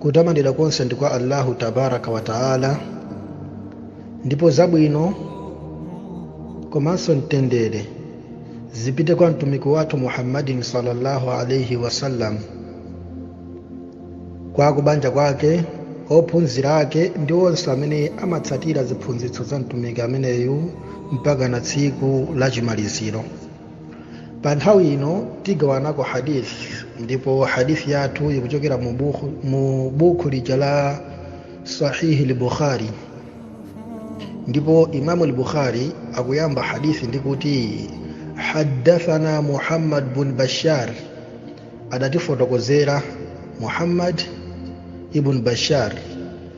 kutamandidwa konse ndi kwa allahu tabaraka wa taala ndipo zabwino komanso mtendere zipite kwa mtumiki wathu muhammadin sallallahu alaihi wasallam kwa akubanja kwake ophunzira ake ndi onse amene amatsatira ziphunzitso za mtumiki ameneyu mpaka na tsiku la chimaliziro pa nthawi ino tigawanako hadith ndipo hadith yathu ikuchokera mu bukhu- mu bukhu lija la sahihi lbukhari ndipo imamu lbukhari akuyamba hadithi ndi kuti haddathana muhammad bun bashar adatifotokozera muhammad ibn bashar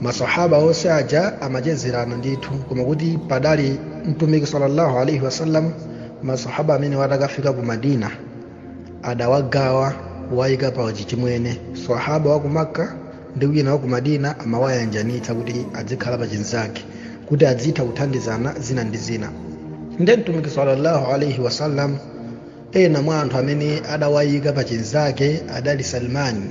masahaba onse aja amachezerana ndithu koma kuti padali mtumiki sallallahu alaihi wasallam masahaba amenewa atakafika ku madina adawagawa kuwayika pa chichimwene sahaba wa ku makka ndi wina wa ku madina amawayanjanitsa kuti adzikhala pa chinzake kuti adzitha kuthandizana zina ndi zina nde mtumiki sallallahu alaihi wasallam ena mwa anthu amene adawayika pa chinzake adali salmani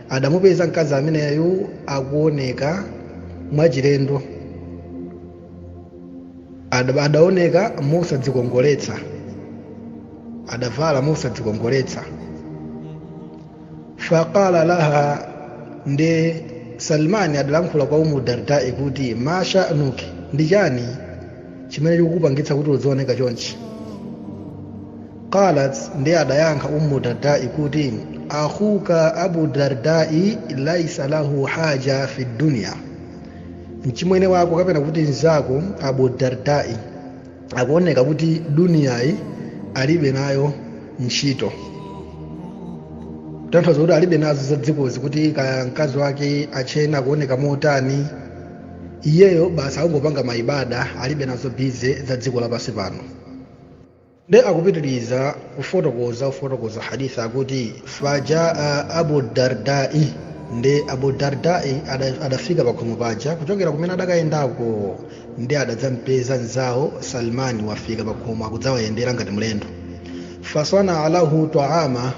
adamupeza mkazi ameneyu akuoneka mwachilendo Ada- adaoneka mosadzikongoletsa adavala mosadzikongoletsa faqala laha ndi salmani adalankhula kwa ummu dardai kuti ma sha'nuki ndi chani chimene chikukupangitsa kuti udzioneka chonchi qalat nde adayankha ummu dardai kuti akhuka abu dardai laisa lahu haja fi dunya mchimwene wako kapena kuti mzako abu dardai akuoneka kuti duniyayi alibe nayo ntchito tanthauza kuti alibe nazo za dzikozi kuti kaya mkazi wake atchena akuoneka motani iyeyo basi akungopanga maibada alibe nazo bize za dziko lapansi pano nde akupitiriza kufotokoza kufotokoza hadith akuti fajaa abu dardai nde abu dardai ada- adafika pakhomo paja kuchokera kumene adakayendako nde adadzampeza mzawo salmani wafika pakhomo akudzawayendera ngati mlendo fasana lahu taama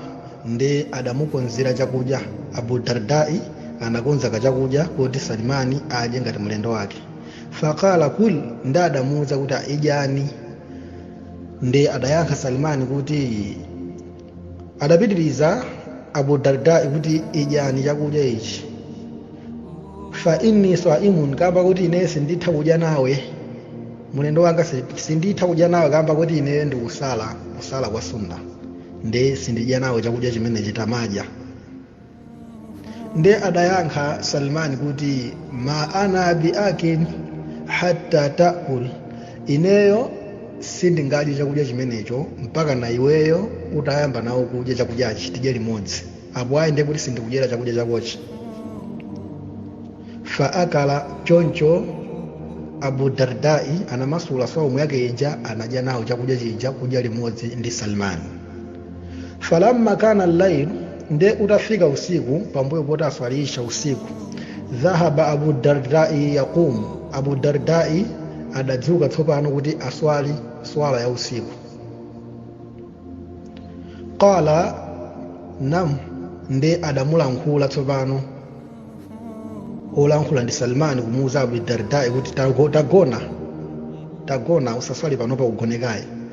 nde adamukonzera chakudya abu dardai anakonza kachakudya koti salimani adye ngati mlendo wake faqala kul nde adamuwuza kuti idyani nde adayankha salimani kuti adapitiriza abu dardai kuti idyani chakudya ichi fa inni saimun kamba kuti ine sinditha kudya nawe mulendo wanga si- sinditha kudya nawe kamba kuti ine ndikusala kusala kwa sunna nde sindidya nawe chakudya chimenechi tamadya nde adayankha salman kuti ma ana bi akin hatta takul ineyo sindingadye chakudya chimenecho mpaka na iweyo utayamba nawo kudya chakudyachi tidye limodzi apo ayi nde kuti sindikudyera chakudya chakochi fa akala choncho abu dardai anamasula saumu yake ija anadya nawo chakudya chija kudya limodzi ndi salmani falamma kana llail nde utafika usiku pambuyo poti aswali isha usiku dhahaba abu dardai yaqumu abu dardai adadzuka tsopano kuti aswali swala ya usiku qala nam nde adamulankhula tsopano olankhula ndi salmani kumuuza abu dardai kuti tagona tagona usaswali panopa ugone kaye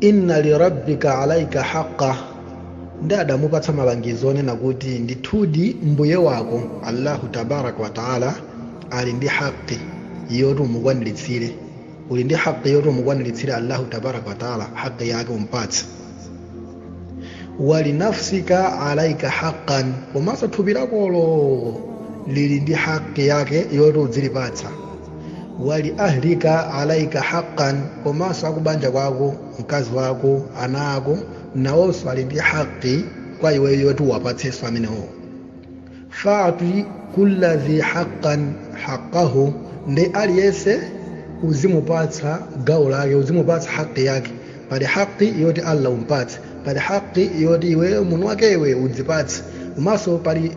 inna lirabbika alaika haqqa nde adamupatsa malangizo onena kuti ndithudi mbuye wako allahu tabaraka wataala ali ndi haqi yoti umukwaniritsire uli ndi haqi yoti umukwaniritsire allahu tabaraka wataala haqi yake umpatse walinafsika alaika haqqan komanso thupi lakolo lili ndi haqi yake yoti udzilipatsa wali ahlika alaika haqqan komanso akubanja kwako mkazi wako ana ako nawonso ali ndi haqi kwa iwe yoti uwapatsenso amenewo fati kulla dhi haqqan haqqahu nde aliyense uzimupatsa gawo lake uzimupatsa haqi yake pali haqi yoti allah umpatse pali haqi yoti iweyo munthu wakewe udzipatse komanso pali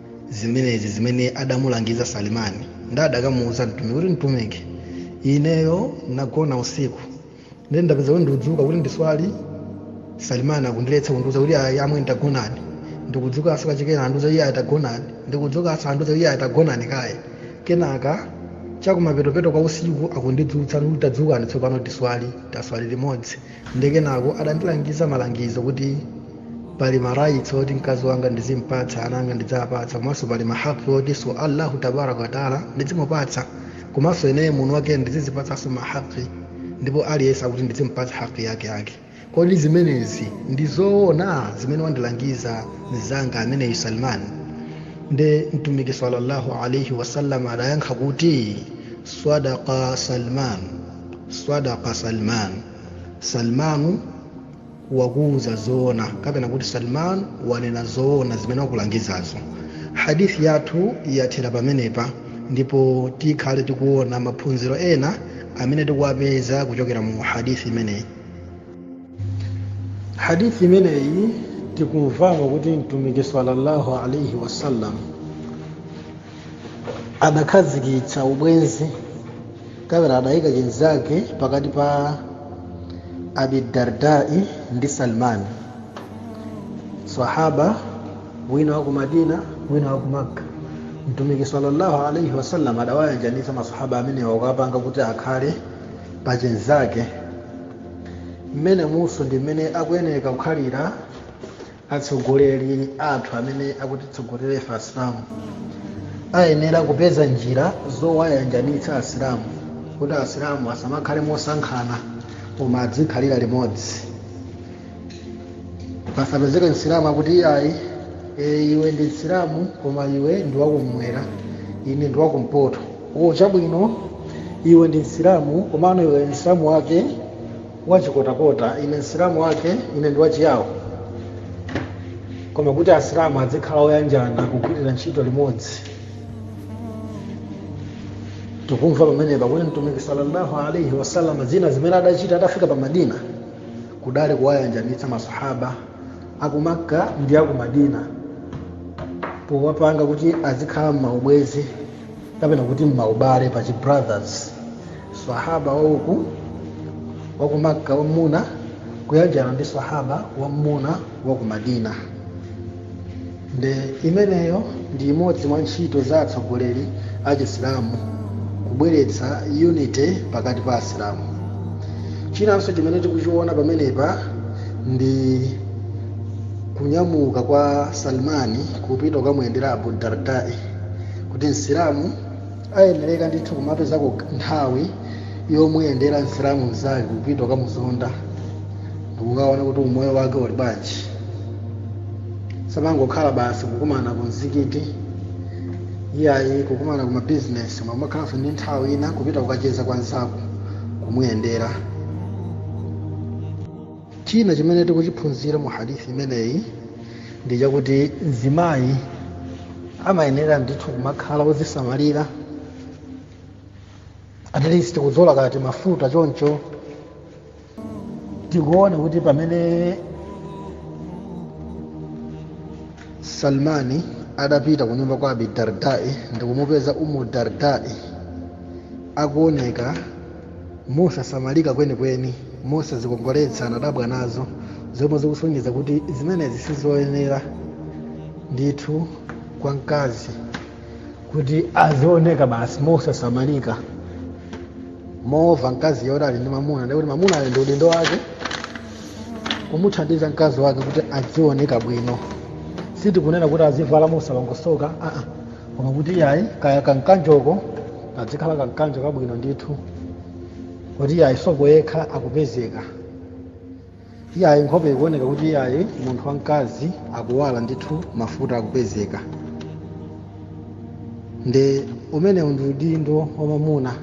zimenezi zimene adamulangiza salimani nde adakamuuza mtumiki kuti mtumiki ineyo nagona usiku ndiye ndapeza kuti ndikudzuka kuti ndiswali salimani akundiletsa kundiuza kuti ayi amwene tagonani ndikudzukanso kachikena andiuza iyayi tagonani ndikudzukanso andiuza iyayi tagonani kaye kenaka chakumapetopeto kwa usiku akundidzutsa kuti tadzukani tsopano tiswali taswali limodzi nde kenako adandilangiza malangizo kuti pali marights oti mkazi wanga ndizimpatsa ana anga ndiziwapatsa komanso pali mahaqi otinso allahu tabaraka wataala ndizimupatsa komanso ineyo munthu wakene ndizizipatsanso mahaqi ndipo aliyense akuti ndizimpatsa haqi yake yake kodi zimenezi ndi zoona zimene wandilangiza mzanga ameneyu salman nde mtumiki sallallahu alaihi wasallam adayankha kuti swadaqa salman swadaka salman salmani wakuuza zoona kapena kuti salman wanena zoona zimene wakulangizazo hadithi yathu yathera pamenepa ndipo tikhale tikuona maphunziro ena amene tikuwapeza kuchokera mu hadithi imeneyi hadithi imeneyi tikumvamo kuti mtumiki sallallahu alaihi wasallam adakhazikitsa ubwenzi kapena adayika chenzake pakati pa abidardai ndi salmani sahaba wina wa ku madina wina wa ku makka mtumiki sallallahu alaihi wasallam adawayanjanitsa masahaba amenewa kuwapanga kuti akhale pa chenzake mmene umuso ndi mmene akuyeneka kukhalira atsogoleri athu amene akutitsogolera ife asilamu ayenera kupeza njira zowayanjanitsa asilamu kuti asilamu asamakhale mosankhana koma adzikhalira limodzi pasapezeke msilamu akuti iyayi e, iwe ndi msilamu koma iwe ndi wakummwera ine ndi wakumpoto o chabwino iwe ndi msilamu komano iwe msilamu wake wachikotakota ine msilamu wake ine ndi wachiyawo koma kuti asilamu adzikhala oyanjana kugwirira ntchito limodzi tikumva pamenepa kuti mtumiki sallallahu alaihi wasallam zina zimene adachita atafika pa madina kudali kuwayanjanitsa masahaba aku makka ndi aku madina powapanga kuti azikhala m'maubwezi kapena kuti mmaubale pa chi brothers sahaba wauku wa ku makka wammuna kuyanjana ndi sahaba wammuna wa ku madina nde imeneyo ndi imodzi mwa ntchito za atsogoleri a chisilamu kubweretsa unity pakati pa asilamu chinanso chimene tikuchiona pamenepa ndi kunyamuka kwa salmani kupita kukamuyendera abu dardai kuti msilamu ayenereka ndithu kumapezako nthawi yomuyendera msilamu mzake kupita kukamuzonda ndikukaona kuti umoyo wake uli bwanji osamangokhala basi kukumana ku mzikiti iyayi kukumana ku mabizinesi muyenera kumakhalanso ndi nthawi ina kupita kukacheza kwa mzako kumuyendera china chimene tikuchiphunzira mu hadithi imeneyi ndi chakuti mzimayi amayenera ndithu kumakhala wozisamalira at least kudzolako timafuta choncho tikuona kuti pamene salmani adapita ku nyumba kwa abi dardai ndikumupeza umu dardai akuoneka mosasamalika kwenikweni, mosazikongoletsa anadabwa nazo, zomwe zikusonyeza kuti zimenezi sizoyenera ndithu kwa mkazi kuti azioneka basi mosasamalika movala mkazi woti ali ndi mamuna ndikuti mamuna ali ndi udindo wake kumuthandiza mkazi wake kuti azioneka bwino sitikunena kuti azivala mosalongosoka aa koma kuti iyayi kaya kankanjoko kadzikhala kankanjo kabwino ndithu kuti iyayi sopo yekha akupezeka iyayi nkhope ikuoneka kuti iyayi munthu wamkazi akuwala ndithu mafuta akupezeka nde umenewu ndi udindo wa mamuna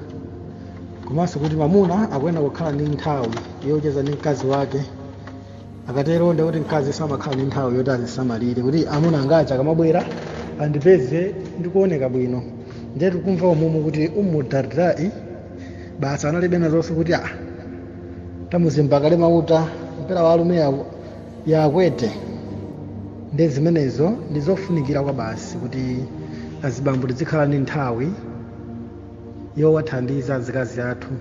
komanso kuti mamuna akuyenera kukhala ndi nthawi yocheza ndi mkazi wake akatero ndi kuti mkazi samakhala ndi nthawi yoti azisamalire kuti amuna anga aja akamabwera andipeze ndikuoneka bwino ndiye tikumva umumu kuti umu dardai basi analibe nazonse kuti a tamuzimba kale mauta mpera wa alume yakwete ndi zimenezo ndi zofunikira kwabasi kuti azibambo tizikhala ndi nthawi yowathandiza azikazi athu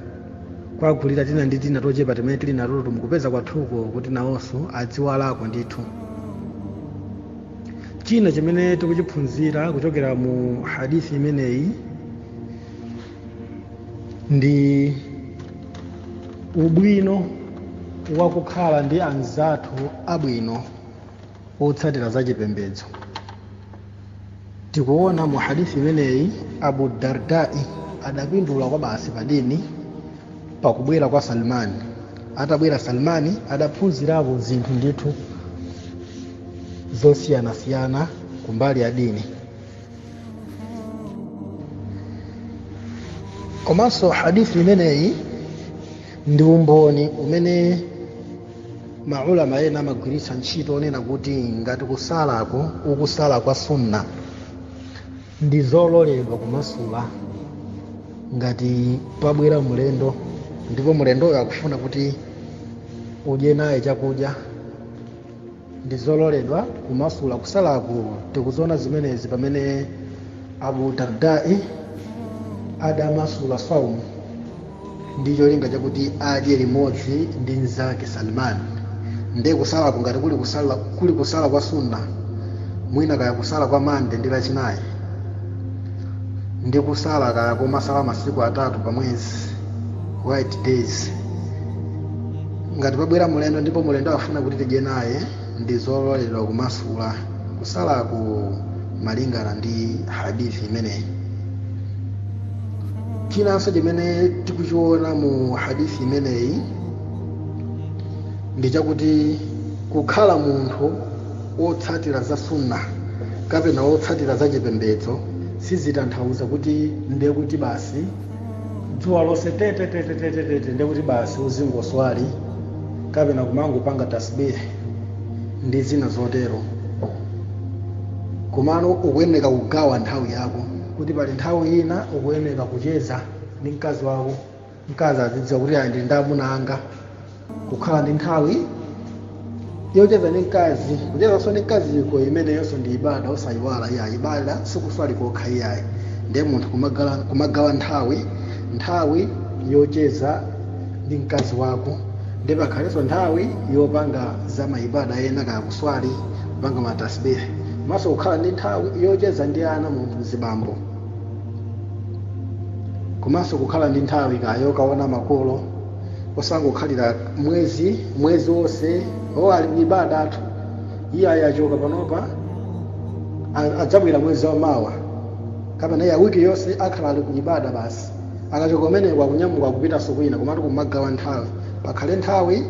kuwagulira tina ndi tina tochepa timene tili natoto mukupeza kwathuko kuti nawonso adziwalako ndithu china chimene tikuchiphunzira kuchokera mu hadithi imeneyi ndi ubwino wakukhala ndi anzathu abwino otsatira za chipembedzo tikuona mu hadithi imeneyi abu dardai adapindula kwabasi padini pakubwera kwa salmani atabwera salmani adaphunzirapo zinthu ndithu zosiyanasiyana kumbali ya dini komanso hadithi imeneyi ndi umboni umene maulama ena amagwiritsa ntchito wonena kuti ngati kusalako ukusala kwa sunna ndi zololedwa kumasula ngati pabwera mulendo ndipo mulendoyo akufuna kuti udye naye chakudya ndi zololedwa kumasula kusalaku tikuziona zimenezi pamene abu dardai adamasula saumu ndi cholinga chakuti adye limodzi ndi mnzake salman nde kusalako ngati kuli kusala kwa sunna mwina kaya kusala kwa mande ndi lachinayi ndi kusala kaya kumasala masiku atatu pa mwezi white days ngati pabwera mulendo ndipo mulendo afuna kuti tidye naye ndi zololedwa kumasula kusalako malingana ndi hadith imeneyi chinanso chimene tikuchiona mu hadith imeneyi ndi chakuti kukhala munthu wotsatira za sunna kapena wotsatira za chipembedzo sizitanthauza kuti ndiye kuti basi dzuwa lonse tetetetetetete ndekuti basi uzingoswali kapena kumangopanga tasbih ndi zina zotero komano ukuyeneka kugawa nthawi yako kuti pali nthawi ina ukuyeneka kucheza ndi mkazi wako mkazi azidziwa kuti ayi ndili ndi amuna anga kukhala ndi nthawi yocheza ndi mkazi kuchezanso ndi mkaziko imeneyonso ndi ibada osayiwala iyayi ibada sikuswali kokha iyayi ndiye munthu kumagala- kumagawa nthawi nthawi yocheza ndi mkazi wako ndiye pakhalenso nthawi yopanga za maibada ena kaya kuswali kupanga matasbihi komanso kukhala ndi nthawi yocheza ndi ana munthu mzibambo komanso kukhala ndi nthawi kaya yokaona makolo osangokhalira mwezi mwezi wonse o ali kuibada athu iye achoka panopa a- adzabwera mwezi wa mawa kapena iye wiki yonse akhala ali kuibada basi akachoka kumeneko akunyamuka kupitanso kwina komatu kumagawa nthawi pakhale nthawi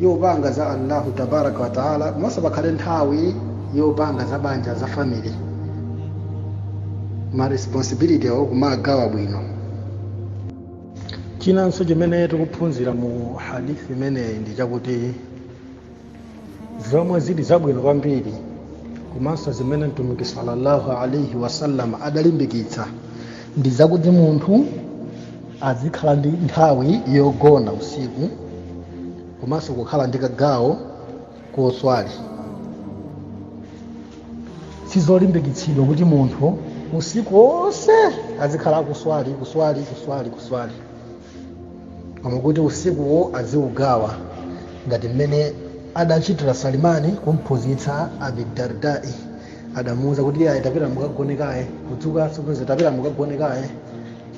yopanga za allahu tabaraka wataala komanso pakhale nthawi yopanga za banja za family ma responsibility awo kumagawa bwino chinanso chimene tikuphunzira mu hadithi imeneyi ndi chakuti zomwe zili zabwino kwambiri komanso zimene mtumiki sallallahu alaihi wasallam adalimbikitsa ndi zakuti munthu azikhala ndi nthawi yogona usiku komanso kukhala ndi kagawo koswali sizolimbikitsidwa kuti munthu usiku wonse azikhala akuswali kuswali kuswali kuswali koma kuti usikuwo aziugawa ngati mmene adachitira salimani kumphunzitsa abi dardai adamuuza kuti iyayi tapitani mukagone kaye kudzuka sikuzi tapitani mukagone kaye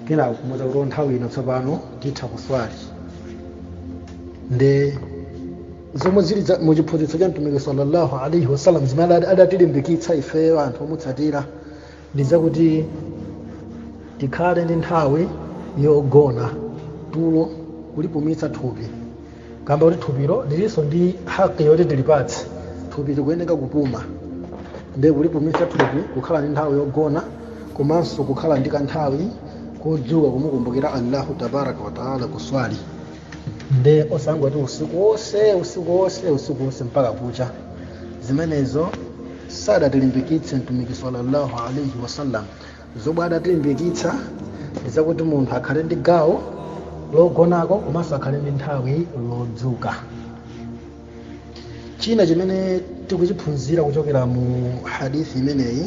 kenako kumuuza kuti nthawi ino tsopano titha kuswali nde zomwe zili za- mu chiphunzitso cha mtumiki sallallahu alaihi wasallam zimene ada- adatilimbikitsa ifeyo anthu omutsatira ndi zakuti tikhale ndi nthawi yogona tulo kulipumitsa thupi kamba kuti thupilo lilinso ndi haki yoti tilipatse thupi likuyeneka kupuma nde kulipumitsa thupi kukhala ndi nthawi yogona komanso kukhala ndi kanthawi kodzuka kumukumbukira allahu tabaraka wataala kuswali nde osangoti usiku wonse usiku wonse usiku wonse mpaka kucha zimenezo sadatilimbikitse mtumiki sallallahu alaihi wasallam zomwe adatilimbikitsa ndizakuti munthu akhale ndi gawo logonako komanso akhale ndi nthawi yodzuka china chimene tikuchiphunzira kuchokera mu hadithi imeneyi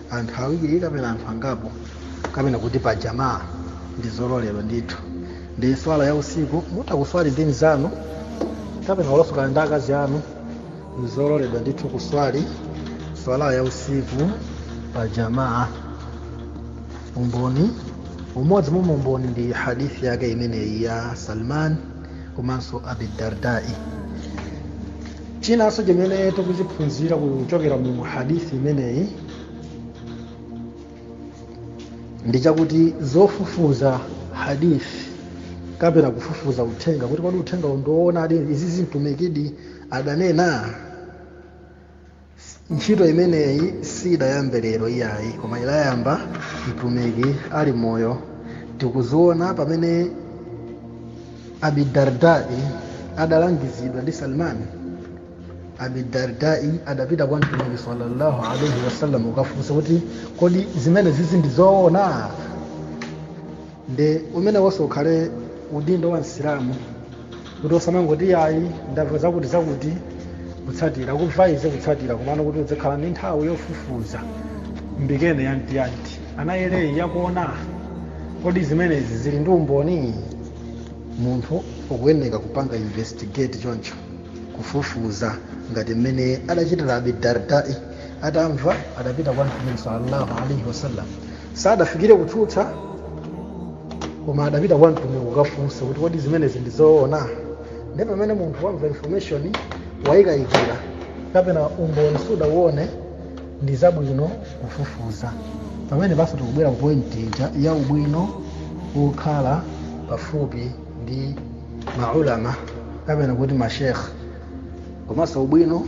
anthu awiri kapena anthu angapo kapena kuti pa jamaa ndi zololedwa ndithu ndi swala ya usiku mutha kuswali ndi mzanu kapena kulosokana ndi akazi anu ndi zololedwa ndithu kuswali swala ya usiku pa jamaa umodzi umodzi mwa umboni ndi hadithi yake imeneyi ya salman komanso abidardai chinanso chimene tikuchiphunzira kuchokera mu hadithi imeneyi ndi chakuti zofufuza hadithi kapena kufufuza uthenga kuti kodi uthenga uwu ndiwoonadi izi mtumikidi adanena ntchito imeneyi siidayambe lero iyayi koma idayamba mtumiki ali moyo tikuziona pamene abidardai adalangizidwa ndi salmani abidardai adapita kwa mtumiki sallallahu alaihi wasallam kukafunsa kuti kodi zimenezizi ndi zoona nde umenewonso ukhale udindo wa msilamu kuti osamangoti ayi ndamva zakuti zakuti kutsatira kuvayize kutsatira komano kuti udzikhala ndi nthawi yofufuza mbikene yantiyanti anayeleyi yakuona kodi zimenezi zili ndi umboni munthu ukuyeneka kupanga investigate choncho kufufuza ngati mmene adachitira abi dardai atamva adapita kwa mtume sallallahu alaihi wasallam sadafikire kutsutsa koma adapita kwa mtumiki kukafunsa kuti kodi zimenezi ndi zoona nde pamene munthu wamva information wayikayikira kapena umboni sudauone ndi zabwino kufufuza pamene basi tikubwera ku point ija ya ubwino wokhala pafupi ndi maulama kapena kuti mashekh komanso ubwino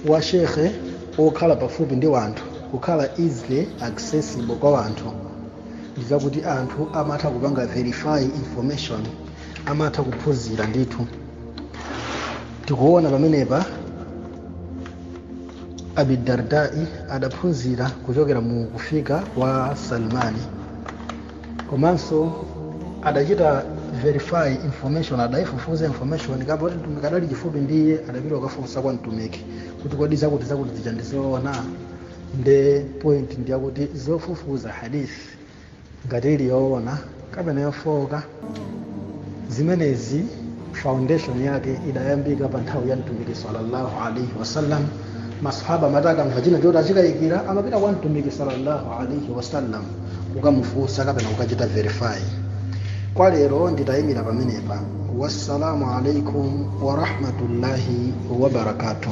wa shekhe wokhala pafupi ndi wanthu kukhala easily accessible kwa wanthu ndi zakuti anthu amatha kupanga verify information amatha kuphunzira ndithu tikuona pamenepa abidardai adaphunzira kuchokera mu kufika kwa salmani komanso adachita verify information adayifufuza information kamba kuti mtumiki adali chifupi ndi iye adapita kukafunsa kwa mtumiki kuti kodi zakuti zakuti zija ndizoona nde point ndi yakuti zofufuza hadith ngati ili yoona kapena yofooka zimenezi foundation yake idayambika pa nthawi ya mtumiki sallallahu alaihi wasallam masahaba amati akamva china choti achikayikira amapita kwa mtumiki sallallahu alaihi wasallam kukamufunsa kapena kukachita verify kwa lero nditayimira pamenepa wassalamu alaikum warahmatullahi wabarakatuh